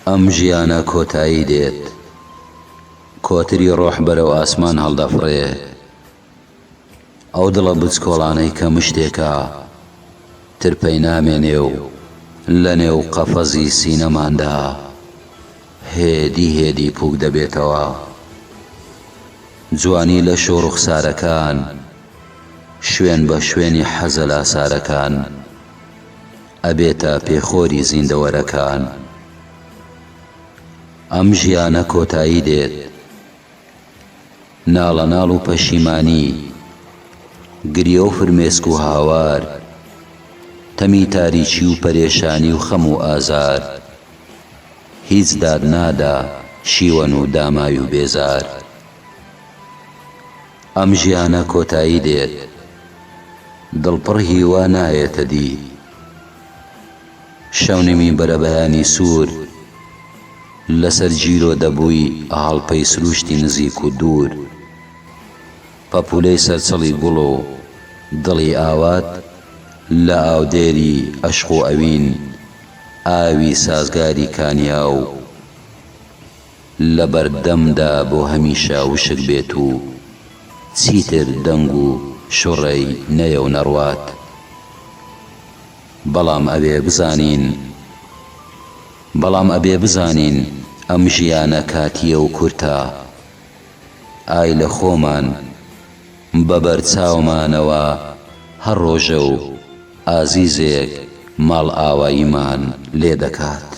ئەم ژیانە کۆتایی دێت کۆتری ڕۆح بەرەو ئاسمان هەڵدەفڕێ ئەو دڵە بچکۆڵانەی کە مشتێکە تر پەینامێنێ و لەنێو قەفەزی سینەماندا هێدی هێدی پووک دەبێتەوە. جوانی لەش و ڕوخسارەکان شوێن بە شوێنی حەزەلاسارەکان ئەبێتە پێخۆری زیندەوەرەکان. ئەم ژیانە کۆتایی دێت. ناڵەناڵ و پەشیمانی، گریە و فرمێسک و هاوار، تەمی تاریکی و پەرێشانی و خەم و ئازار، هیچ داد نادا شیوەن و دامای و بێزار ئەم ژیانە کۆتایی دێت دڵ پڕ هیوا نایێتە دی شەونمی بەرەبەیانی سوور لەسەر جیرۆ دەبووی هەڵپەی سرووشتی نزیک و دوور. پەپوولەی سەرچڵی گوڵ و دڵی ئاوات لە ئاودێری ئەشق و ئەوین ئاوی سازگاری کانیاو لە بەردەمدا بۆ هەمیشە وشک بێت و چیتر دەنگ و شوڕەی نەیەو نەڕوات بەڵام ئەوێ بزانین بەڵام ئەبێ بزانین ئەم ژیانە کاتییە و کورتە. ئای لە خۆمان بە بەر چاومانەوە هەر ڕۆژە و ئازیزێک ماڵئاواییمان لێ دەکات.